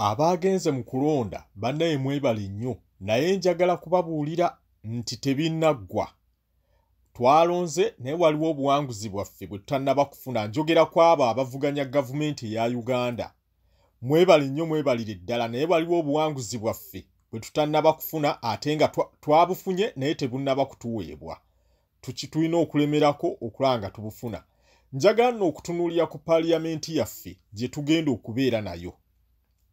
abaagenze mu kulonda bannaye mwebale nnyo naye njagala kubabuulira nti tebinnaggwa twalonze naye waliwo obuwanguzi bwaffe bwe tutannaba kufuna njogera ku abo abavuganya gavumenti eya uganda mwebale nnyo mwebalire ddala naye waliwo obuwanguzi bwaffe bwe tutannaba kufuna ate nga twabufunye naye tebunnaba kutuweebwa tulina okulemerako okulaba nga tubufuna njagala nno okutunuulira ku paaliyamenti yaffe gye tugenda okubeera nayo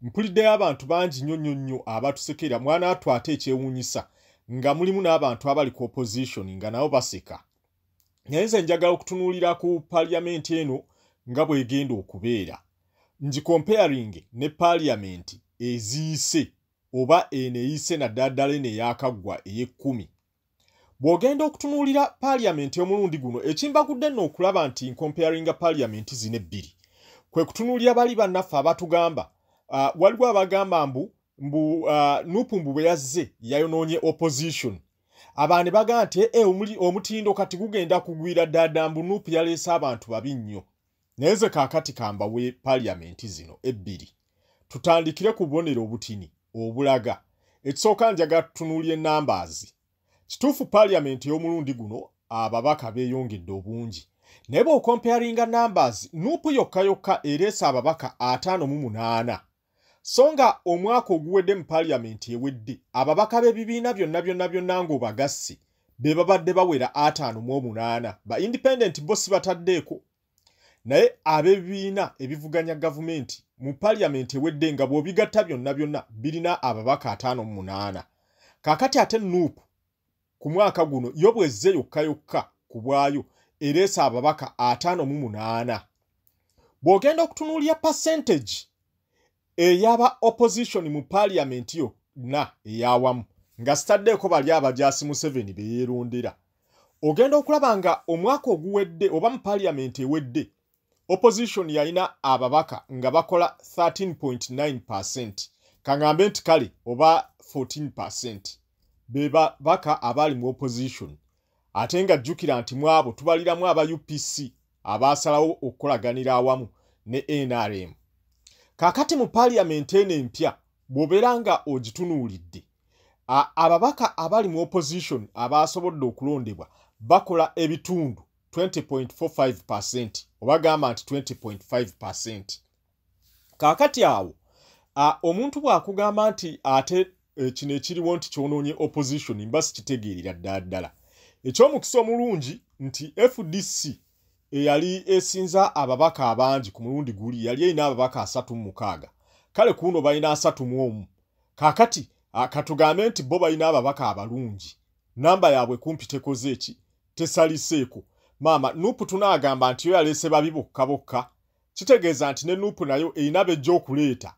mpuliddeyo abantu bangi nnyo nnyo nnyo abatusekera mwana atu ate ekyewuunyisa nga mulimu n'abantu abali ku opozitioni nga nabo baseka naye nze njagala okutunuulira ku paaliyamenti eno nga bw'egenda okubeera ngikompeyaringe ne paaliyamenti eziyise oba eno eyise naddala ddala eno eyakaggwa ey'ekkumi bw'ogenda okutunuulira paaliyamenti omulundi guno ekimbagudde nno okulaba nti nkomparinga paaliyamenti zino ebbiri kwe kutunuulira bali bannaffe abatugamba uh, waliwo abagamba mbu mbu uh, nupu mbu bwe yazze yayonoonye opposition abantu bagamba nti e, omutindo kati gugenda kugwira ddaada mbu nupu yaleese abantu babi nnyo naye nze kaakati kambawe paliyamenti zino ebbiri tutandikire ku bubonero obutini obulaga ekisooka njaga tutunuuli enambaazi kituufu paliyamenti ey'omulundi guno ababaka beeyongedde obungi naye bw'okomparinga nambaazi nuupu yokka yokka ereese ababaka ataano mu munaana so nga omwaka oguwedde mu paaliyamenti ewedde ababaka b'ebibiina byonna byonna byonna ng'obagassi be babadde bawera ataano mu omunaana ba independent bo si bataddeeko naye ab'ebibiina ebivuganya gavumenti mu paaliyamenti ewedde nga bw'obigatta byonna byonna birina ababaka ataano mu munaana kaakati ate nuupu ku mwaka guno yo bwezze yokka yokka ku bwayo ereese ababaka ataano mu munaana bw'ogenda okutunuulira percentage eyaba opposition mu paaliyamenti yonna eyawamu nga sitaddeeko bali abajaasi museveni be yeerondera ogenda okulaba nga omwaka oguwedde oba mu paaliyamenti ewedde opposition yalina ababaka nga bakola 13.9 percent kaŋambe nti kale oba 14 percent be babaka abaali mu opposition ate nga jjukira nti mu abo tubaliramu aba upc abaasalawo okukolaganira awamu ne nrm kaakati mu paaliyamenti eno empya bw'obeera nga ogitunuulidde ababaka abali mu opposition abaasobodde okulondebwa bakola ebitundu 20.45 oba gamba nti 20.5 kaakati awo omuntu bw'akugamba nti ate eh, kino ekiriwo nti kyonoonye opposition mba sikitegeerera ddala ddala eky'omukisa omulungi nti fdc eyali esinza ababaka abangi ku mulundi guli yali erina ababaka asatu mu mukaaga kale kuuno balina asatu mu omu kaakati katugambe nti bo balina ababaka abalungi namba yaabwe kumpi tekoze eki tesaliseeko maama nupu tunaagamba nti yo yaleese babi bokka bokka kitegeeza nti ne nupu nayo erina bejja okuleeta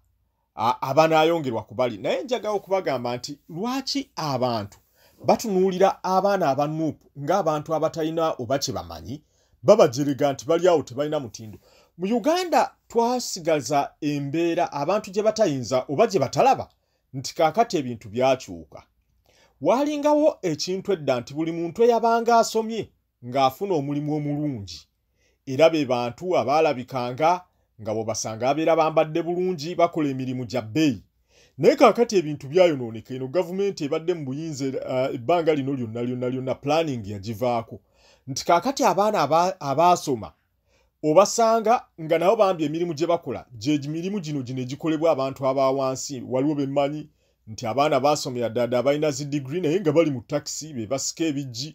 abanaayongerwa kubali naye njagawo okubagamba nti lwaki abantu batunuulira abaana aba nupu ng'abantu abatalina oba kye bamanyi babajerega nti bali awo tebalina mutindo mu uganda twasigaza embeera abantu gye batayinza oba gye batalaba nti kaakati ebintu byakyuka waalingawo ekintu edda nti buli muntu eyabanga asomye ng'afuna omulimu omulungi era be bantu abaalabikanga nga bwebasanga abeera bambadde bulungi bakola emirimu gya bbeeyi naye kaakati ebintu byayonooneka eno gavumenti ebadde mu buyinza eh, ebbanga lino lyonna lyonna lyonna pulaningi yagivaako nti kaakati abaana abaasoma obasanga nga nabo bambi emirimu gye bakola gye mirimu gino gino egikolebwa abantu aba wansi waliwo bemmanyi nti abaana baasomera ddaada abalina zi digiri naye nga bali mu takisi be basika ebijji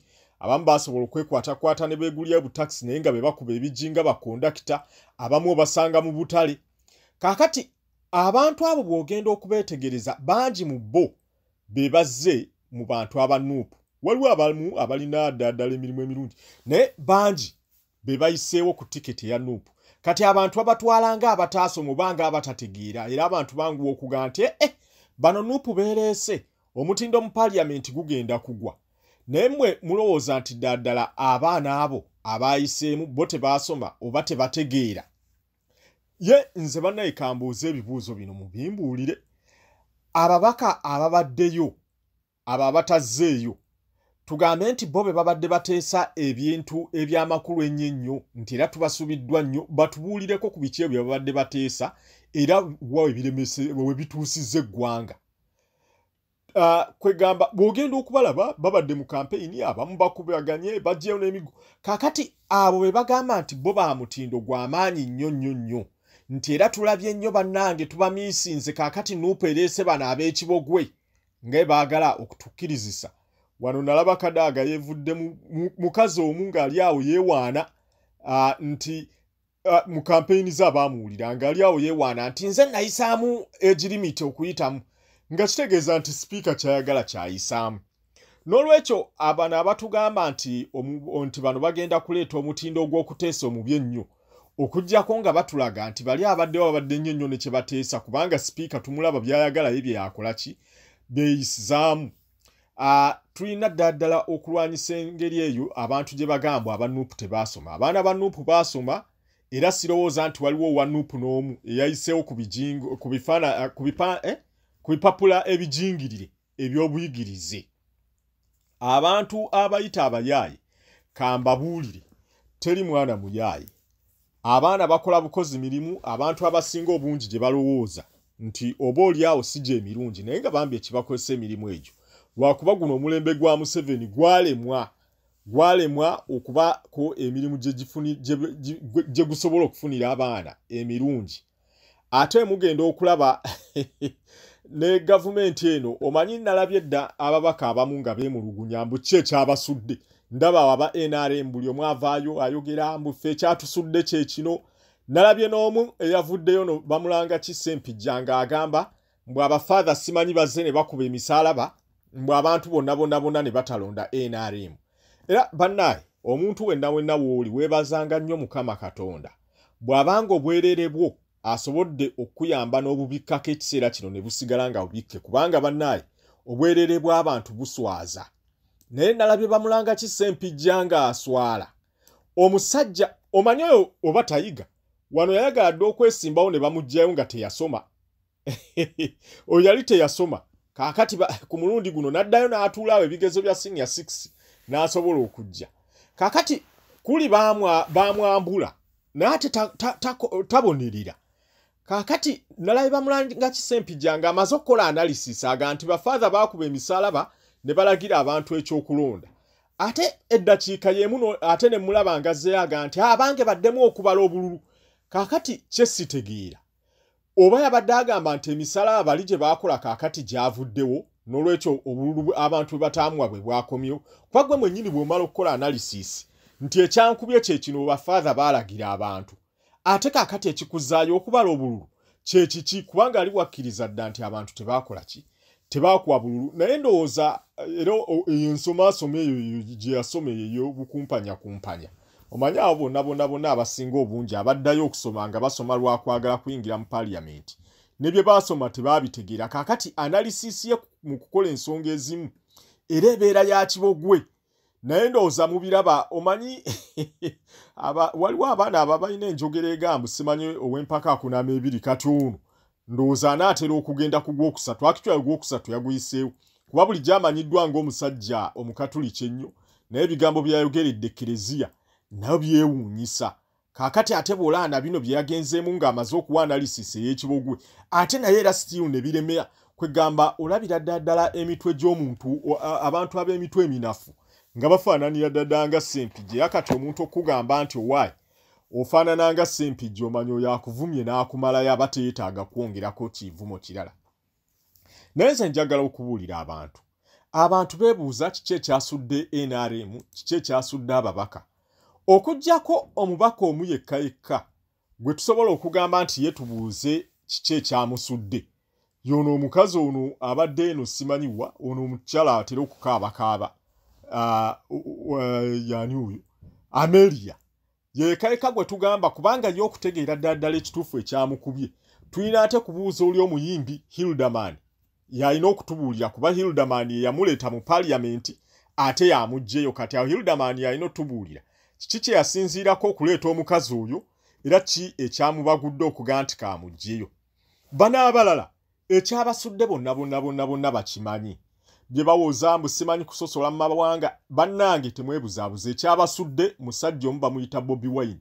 abamu basobola okwekwatakwata ne beegulira butakisi naye nga be bakuba ebijji nga bakondakita abamu obasanga mu butale kaakati abantu abo bw'ogenda okubeetegereza bangi mu bo be bazze mu bantu abanuupu waliwo abamu abalina ddaaddala emirimu emirungi naye bangi be bayiseewo ku tiketi eya nup kati abantu babatwala nga abataasomu oba nga abatategeera era abantu banguwa okugaa nti ee eh, bano nup beereese omutindo mu paliyamenti gugenda kugwa naye mwe mulowooza nti ddaaddala abaana abo abaayiseemu bo tebaasoma oba tebategeera ye nze bannaye kambuuza ebibuuzo bino mubimbuulire ababaka ababaddeyo abo abatazzeeyo tugambe nti bo be babadde bateesa ebintu eby'amakulu ennyo ennyo nti era tubasubiddwa nnyo batubuulireko ku biki ebyo babadde bateesa era wa we bituusizza eggwanga uh, kwegamba bw'ogenda okubalaba babadde mu kampeyini abamu bakubaganye bajjeyo n'emigo kaakati abo be bagamba nti bo ba mutindo gwa maanyi nnyo nnyo nnyo nti era tulabye nnyo bannange tubamiisinze kaakati nuupu ereese bano ab'ekibogwe nga baagala okutukkirizisa wano nalaba kadaaga yevudde mukazi omu ng'ali awo yeewaana ah, nti ah, mu kampeyini ze abaamuwulira ng'ali awo yeewaana nti nze nayisaamu egirimiti okuyitamu nga kitegeeza nti sipiika kyayagala kyayisaamu n'olwekyo abano abatugamba nti nti bano bagenda kuleeta omutindo ogw'okuteesa omubi ennyo okujjako nga batulaga nti bali abaddewo abadde nnyo nnyo ne kye bateesa kubanga sipiika tumulaba by'ayagala ye byeyakola ki beeyisizaamu ah, tulina ddala ddala okulwanyisa engeri eyo abantu gye bagambwa aba nuupu tebaasoma abaana ba nuupu baasoma era sirowooza nti waliwo owa nuupu n'omu eyayiseewo ku eh, bipapula ebijingirire eby'obuyigirize abantu abayita abayaaye kambabuulire teri mwana muyaaye abaana bakola bukozi mirimu abantu abasinga obungi gye balowooza nti oba olyawo si gye emirungi naye nga bambi ekibakozesa emirimu egyo lwakuba guno omulembe gwa museveni gwalemwa gwalemwa okubako emirimu gye gusobola okufunira abaana emirungi ate mugenda okulaba ne gavumenti eno omanyi nalabye dda ababaka abamu nga bemulugunya mbu ki ekyabasudde ndaba waba nrm buli omu avaayo ayogera mbu ffe ekyatusudde kyekino nalabye n'omu eyavuddeyo no bamulanga ki sempijja nga agamba mbu abafaatha simanyi bazze ne bakuba emisaalaba mbu abantu bonna bonna bonna ne batalonda nrm era bannaye omuntu wenna wenna wooli weebazanga nnyo mukama katonda bw'abanga obwereere bwo asobodde okukuyamba n'obubikkako ekiseera kino ne busigala nga bubikke kubanga bannaye obwereere bw'abantu buswaza naye nalabye bamulanga ki sempijja ng'aswala omusajja omanyi oyo oba tayiga wano yayagala dde okwesimbawo ne bamugjayo nga teyasoma oyo yali teyasoma kakati ku mulundi guno naddayo n'atuulaawo ebigezo bya senior six n'asobola okujja kakati kuli bamwambula naye ate tabonerera kaakati nalabe bamulanga kisempija nga amaze okukola analysis aga nti bafaatha baakuba emisaalaba ne balagira abantu ekyokulonda ate eddakiika y'emu ate ne mulaba nga zeyaga nti abange baddemu okubala obululu kaakati kyesitegeera oba yabadde agamba nti emisala abali gye baakola kaakati gyavuddewo n'olwekyo obululu abantu bwe bataamuwa bwe bwakomyewo kuba gwe mwennyini bw'omala okukola analysis nti ekyankubye kye kino bafaatha baalagira abantu ate kakati ekikuzaayo okubala obululu kyekiki kubanga ali wakkiriza dda nti abantu tebaakola ki tebaakuwa bululu naye ndowooza eh, era eyo ensomaasoma eyo gye yasoma eyo eyobukumpanya kumpanya omanyi abo bonna bonna bonna abasinga obungi abaddayo okusoma nga basoma lwakwagala kuyingira mu paliyamenti ne bye baasoma tebaabitegeera kaakati analisisi ye mu kukola ensonga ezimu era ebeera ya kibogwe naye ndowooza mubiraba omanyi waliwo abaana aba balina enjogera egambu simanyi ow'empaka akunama ebiri kati ono ndowooza anaatera okugenda ku gwokusatu akitwayo gwokusatu yaguyiseewo kuba bulijjo amanyiddwa ng'omusajja omukatuliki ennyo naye ebigambo byayogeredde ekereziya nayo byewuunyisa kakati ate bwolaana bino bye yagenzeemu ng'amaze okuwa analysis ey'ekibogwe ate naye era still ne biremera kwegamba olabira ddaddala emitwe gy'omuntu abantu ab'emitwe eminafu nga bafaananira ddadala nga sempijje yakati omuntu okugamba nti owaayi ofaanana nga sempijje omanya oyo akuvumye n'akumalayo aba teyetaaga kwongerako kivumo kirala naye nze njagala okubuulira abantu abantu beebuuza kiki ekyasudde nrm kiki ekyasudde ababaka okugyako omubaka omu yekka yekka gwe tusobola okugamba nti ye tubuuze kiki ekyamusudde yono omukazi ono abadde eno simanyiwa ono omukyala atera okukaabakaaba ah, yani oyo amelia yekayeka gwe tugamba kubanga ye okutegeera ddala ddala ekituufu ekyamukubye tulina ate kubuuza oli omuyimbi hilderman yalina okutubuulira kuba hilderman yeyamuleeta mu paliyamenti ate yamugjeyo kati awo hilderman yalina otubuulira kiki kye yasinziirako okuleeta omukazi oyo era ki ekyamubagudde okuga nti kamugjeyo banaabalala ekyabasudde bonna bonna bonna bonna bakimanyi bye bawoza mbu simanyi kusosola mu mawanga bannange temwebuzaabuza ekyabasudde musajja omu bamuyita bobi wine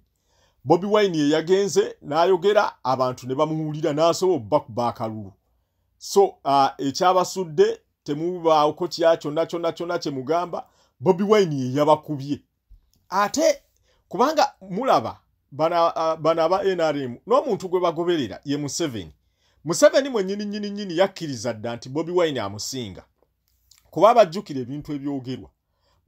bobi wine ye yagenze n'ayogera abantu ne bamuwulira n'asobola obba ku baakalulu so uh, ekyabasudde temubaawoko kya kyonna kyonna kyonna kye mugamba bobi wine ye yabakubye ate kubanga mulaba bano aba nrm n'omuntu gwe bagoberera ye museveni museveni mwenyini nyini nyini yakkiriza dda nti bobi wine amusinga kuba abajjukira ebintu ebyogerwa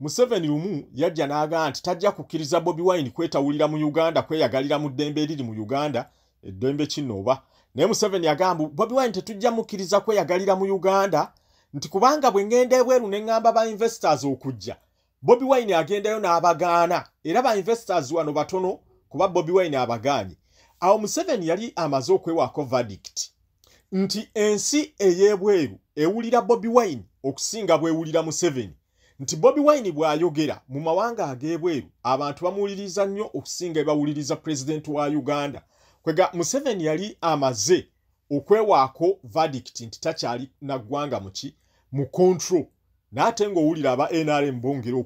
museveni lumu yajja n'agaa nti tajja kukkiriza bobi wine kwetawulira mu uganda kweyagalira mu ddembe eriri mu uganda eddembe kino oba naye museveni yagamba bobi wine tetujja mukkiriza kweyagalira mu uganda nti kubanga bwe ngenda ebweru ne ŋŋamba ba investors okujja bobi wine agendayo n'abagaana era ba investors wano batono kuba bobi wine abagaanye awo museveni yali amaze okwewaako verdict nti ensi ey'ebweru ewulira bobi wine okusinga bwewulira museveni nti bobi wine bw'ayogera mu mawanga ag'ebweru abantu bamuwuliriza nnyo okusinga ebawuliriza pulezidenti wa uganda kwega museveni yali amaze okwewaako verdict nti takyali na ggwanga muki mu control naate ng'owulira aba nrm bongera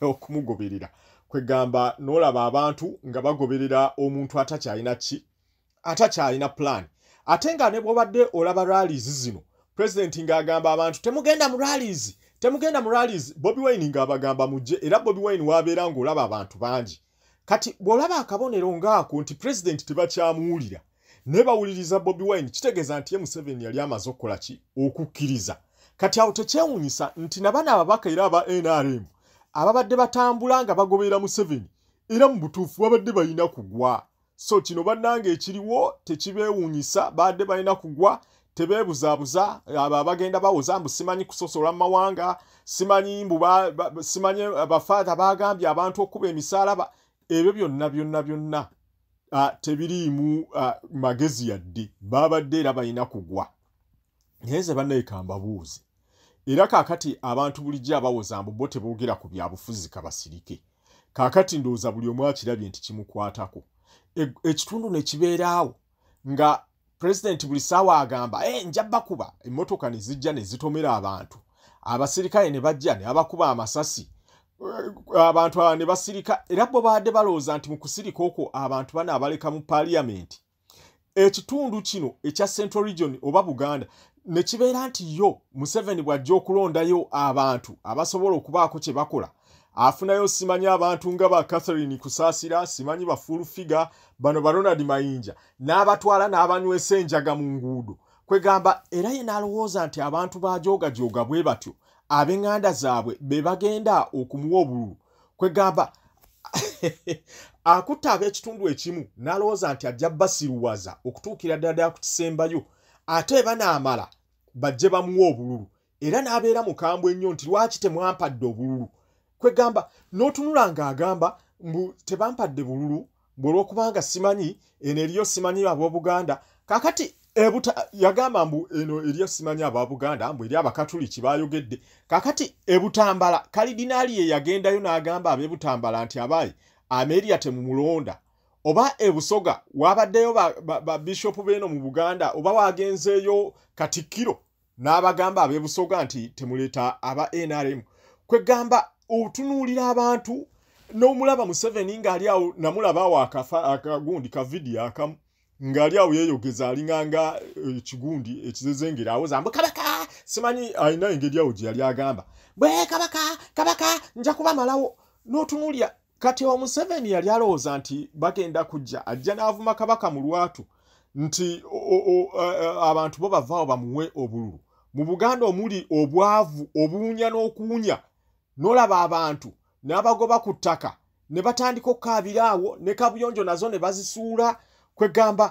okumugoberera kwegamba n'olaba abantu nga bagoberera omuntu atakyalina ki atakyalina pulaani ate nga ne bwobadde olaba ralizi zino pulezidenti ng'agamba abantu temugenda mu ralizi temugenda mu ralizi bobi wine ng'abagamba mujje era bobi wine waabeera ng'olaba abantu bangi kati bw'olaba akabonero ng'ako nti pulezidenti tebakyamuwulira naye bawuliriza bobi wine kitegeeza nti ye museveni yali amaze okukola ki okukkiriza kati awo tekyewunyisa nti nabana ababaka era aba nrm ababadde batambula nga bagoberera museveni era mu butuufu babadde balina kugwa so kino bannange ekiriwo tekibeewuunyisa baadde balina kugwa tebeebuzaabuza abo abagenda bawoza mbu simanyi kusosola mu mawanga simanyi mbu simanyi eh, bafaatha baagambye abantu okuba emisaalaba ebyo byonna byonna byonna ah, tebiriimu ah, magezi yadde baabadde era balina kugwa naye nze bannaye kambabuuzi era kaakati abantu bulijjo abawoza mbu bo teboogera ku byabufuzi kabasirike kaakati ndowooza buli omu akirabye nti kimukwatako e, ekitundu ne kibeeraawo nga pulezidenti buli saawa agamba e, eh, nja bakuba emmotoka ne zijja ne zitomera abantu abasirikale ne bajja ne abakuba amasasi eh, abantu aba ne basirika era bo baadde balowooza nti mu kusirika okwo abantu bana abaleka mu paliyamenti ekitundu kino ekya central region oba buganda nekibeera nti yo museveni bw'ajja okulondayo abantu abasobola okubaako kye bakola afunayo simanyi abantu nga ba catherine kusaasira simanyi ba full figure bano ba ronald mayinja n'abatwala n'abanywesa enjaga mu nguudo kwegamba era ye n'alowooza nti abantu bajoogajooga bwe batyo ab'eŋŋanda zaabwe be bagenda okumuwa obululu kwegamba akutte ab'ekitundu ekimu n'alowooza nti ajja basiruwaza okutuukira ddala ddala ku kisembayo ate eba naamala bajje bamuwa obululu era n'abeera mukambwe ennyo nti lwaki temwampadde obululu kwegamba n'otunula ng'agamba mbu tebampadde bululu mbu olwokubanga simanyi eno eriyo simanyi abobuganda kakati ebuta yagamba mbu eno eriyo simanyi ababuganda mbu eri abakatuliki bayogedde kakati ebutambala kalidinaali ye yagendayo n'agamba abebutambala nti abaayi ameria temumulonda oba ebusoga wabaddeyo babishopu ba, ba beeno mu buganda oba wagenzeeyo katikkiro n'abagamba abebusoga nti temuleeta aba nrm kwegamba otunuulira abantu n'omulaba museveni ng'ali awo namulaba awo akafa akagundi ka vidiyo akamu ng'ali awo yeeyogeza alinganga eh, ekigundi ekizezengera awoza mbu kabaka simanyi alina engeri awo gye yali agamba bwe kabaka kabaka nja kubamalawo n'otunuulira kati omuseveni yali alowooza nti bagenda kujja ajja n'avuma kabaka mu lwatu nti abantu bo bavaawo bamuwe obululu mu buganda omuli obwavu obuwunya n'okuwunya n'olaba abantu n'abagoba ku ttaka ne batandika okukaabira awo ne kabuyonjo nazo ne bazisuula kwegamba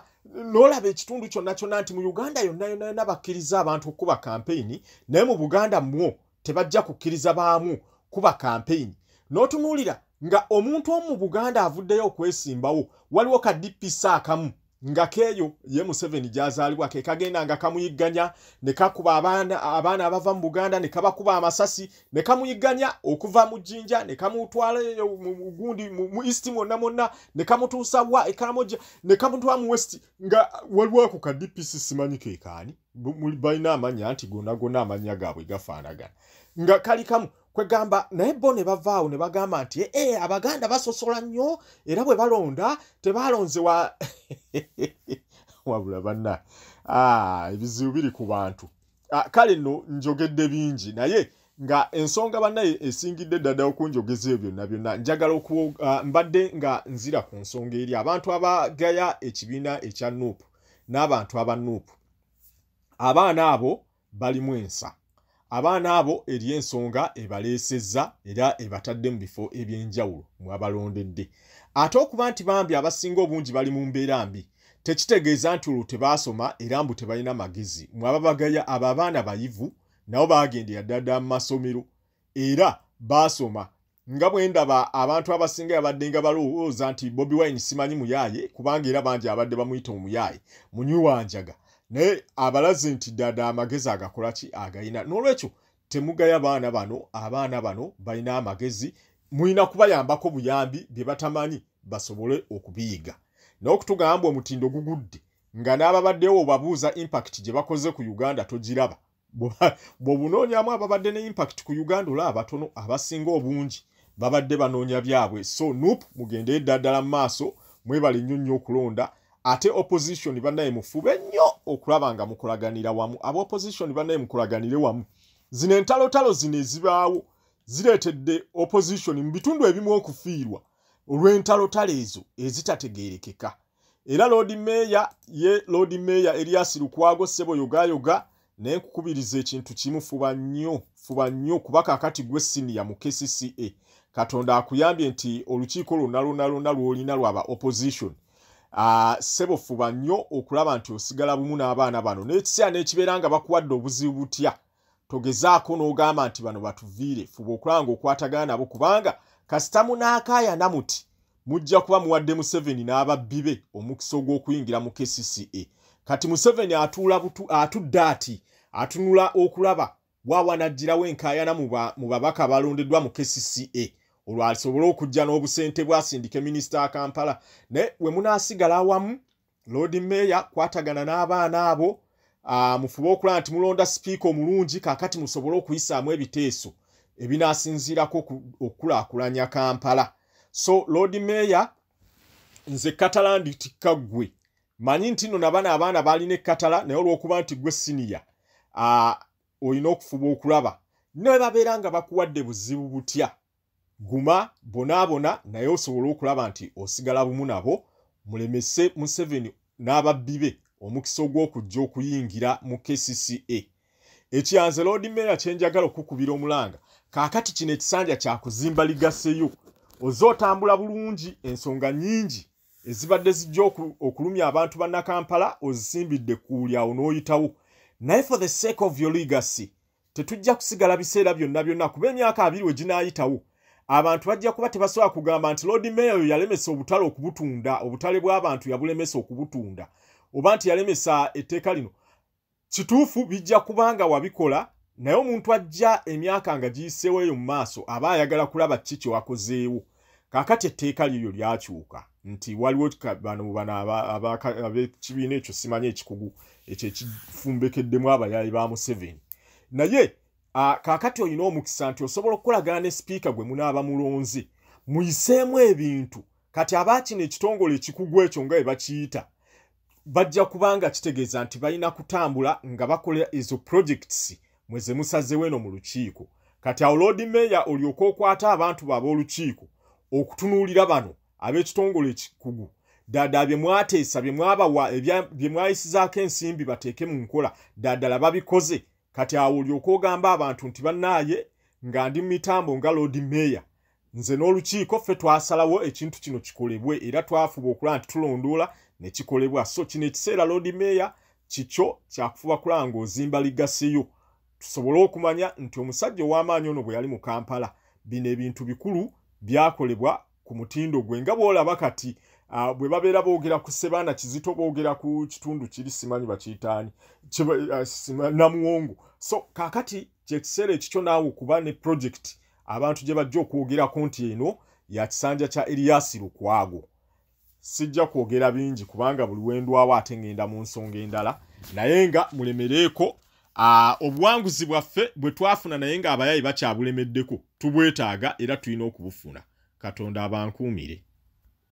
n'olaba ekitundu kyonna kyonna nti mu uganda yonna yonna yonna bakkiriza abantu okukuba kampeyini naye mu buganda mwo tebajja kukkiriza baamu kuba kampeyini n'otunuulira nga omuntu omu mu buganda avuddeyo okwesimbawo waliwo ka dpc akamu nga keeyo ye museveni gyazaalibwa ke kagenda nga kamuyigganya ne kakuba abaana abaana abava mu buganda ne kabakuba amasasi ne kamuyigganya okuva mu jjinja ne kamutwala gundi mu east mwonna mwonna ne kamutuusa wa ekaramoja ne kamutwala mu west nga waliwo ako ka dpc simanyi kekaani balina amanya nti gonagona amanya gaabwe gafaanagana nga kali kamu kwegamba naye bo ne bavaawo ne bagamba nti e eh, eh, abaganda basosola nnyo era bwe balonda tebaalonze wa wabula banna ah, ebizibu biri ku bantu ah, kale no njogedde bingi naye nga ensonga bannaye esingidde ddada okunjogeza ebyo byonna byonna njagala okuwa ah, mbadde nga nzira ku nsonga eri abantu abagaya ekibiina ekya nuupu n'abantu abanuupu abaana abo balimu ensa abaana abo eri ensonga ebaleesezza era ebatadde mu bifo eby'enjawulo mwabalondedde ate okuba nti bambi abasinga obungi bali mu mbeera mbi tekitegeeza nti olwo tebaasoma era mbu tebalina magezi mwababagaya abo abaana bayivu nabo baagendera ddadda mu masomero era baasoma nga bwe ndaba abantu abasinga yabadde nga balowooza nti bobi wine simanyi muyaaye kubanga era bangi abadde bamuyita omuyaaye munywi wanjaga naye abalaze nti ddada amagezi agakola ki agayina n'olwekyo temugaya baana bano abaana bano balina amagezi mulina kubayambako buyambi bye batamanyi basobole okubiyiga n'okutugamba omutindo gugudde nga n'ababaddewo obabuuza impact gye bakoze ku uganda togiraba bwobunoonyamu ababadde ne impact ku uganda olaba abatono abasinga obungi babadde banoonya byabwe so nup mugende eddaddala mu maaso mwebale nnyo nnyo okulonda ate opposition banaye mufube nnyo okulaba nga mukolaganira wamu aba opposition banaye mukolaganire wamu zino entalotalo zino ezibaawo zireetedde opposition mu bitundu ebimu okufiirwa olw'entalotalo ezo ezitategeerekeka era loodi meeya ye loodi meeya erias lukwago ssebo yogayoga naye nkukubiriza ekintu kimu fuba nnyo fuba nnyo kuba kakati gwe siniya mu kcca katonda akuyambye nti olukiiko lwonna lwonna lwonna lwolina lwaba opposition Ah, sebo fuba nnyo okulaba nti osigala bumu n'abaana bano n'ekiseera n'ekibeera nga bakuwadde obuzibu butya togezaako n'ogamba nti bano batuviire fuba okulaba nga okwatagana nabo kubanga kasita munaakaayana muti mujja kuba muwadde museveni n'ababbi be omukisa ogw'okuyingira mu kcca kati museveni atuula butu atudde ati atunula okulaba waawanajjirawo enkaayana mu babaka balondeddwa mu kcca olwo asobole okujja n'obusente bwasindike minisita akampala naye we munaasigala awamu loodi meeya kwatagana n'abaana abo ah, mufube okulaba nti mulonda sipiika omulungi kakati musobole okuyisaamu ebiteeso ebinasinziirako okukulaakulanya kampala so loodi meeya nze katala nditikka ggwe manyi nti no nabana abaana balina ekkatala naye olwokuba nti gwe siniya ah, olina okufuba okulaba nebabeera nga bakuwadde buzibu butya guma bonaabona naye osobole okulaba nti osigala bumu nabo mulemese museveni n'ababbi be omukisa ogw'okujja okuyingira mu kcca ekyanze loodi meeya kye njagala okukubira omulanga kaakati kino ekisanja kyakuzimba ligaseyo oze otambula bulungi ensonga nyingi ezibadde zijja okulumya abantu bannakampala ozisimbidde kuuli awo n'oyitawo naye for the sake of your legacy tetujja kusigala biseera byonna byonna kuba emyaka abiri we ginaayitawo abantu bajja kuba tebasobola kugamba nti loodi meeya oyo yalemesa obutale okubutunda obutale bw'abantu yabulemesa okubutunda oba nti yalemesa etteeka lino kituufu bijja kuba nga wabikola naye omuntu ajja emyaka nga giyiseewo eyo mu maaso aba ayagala kulaba kiki kyewakozeewo kakati etteeka lyeyo lyakyuka nti waliwo bano bano abekibiina ekyo simanya ekikugu ekyo ekifumbekeddemu abayaayi ba museveni naye kakati olina omukisa nti osobola okukolagana ne sipiika gwe munaaba mulonzi muyiseemu ebintu kati aba kino ekitongole ekikugu ekyo nga ebakiyita bajja kubanga kitegeeza nti balina kutambula nga bakola ezo projects mwe ze musazewo eno mu lukiiko kati awo loodi meeya olyoka okwata abantu bo ab'olukiiko okutunuulira bano ab'ekitongole ekikugu ddaadala bye mwateesa bye mwabawa bye mwayisizaako ensimbi bateeke mu nkola ddaadala babikoze kati awo olyoka ogamba abantu nti bannaaye nga ndi mu mitambo nga loodi meeya nze n'olukiiko ffe twasalawo ekintu kino kikolebwe era twafuba okulaba nti tulondoola ne kikolebwa so kino ekiseera loodi meeya kikyo kyakufuba kulaba ng'ozimba ligaseyo tusobole okumanya nti omusajja ow'amaanyi ono bwe yali mu kampala bino ebintu bikulu byakolebwa ku mutindo gwe nga bw'olaba kati Ah, bwe babeera boogera ku sebaana kizito boogera ku kitundu kiri simanyi bakiyitaani ah, namuwongo so kakati kyekiseera ekikyo naawe okuba ne project abantu gye bajja okwogerako nti eno ya kisanja kya eriyasi lukwago sijja kwogera bingi kubanga buli wendwawo ate ngenda mu nsonga endala naye nga mulemereeko obuwanguzi bwaffe bwe twafuna naye nga abayayi bakyabulemeddeko tubwetaaga era tulina okubufuna katonda abankuumire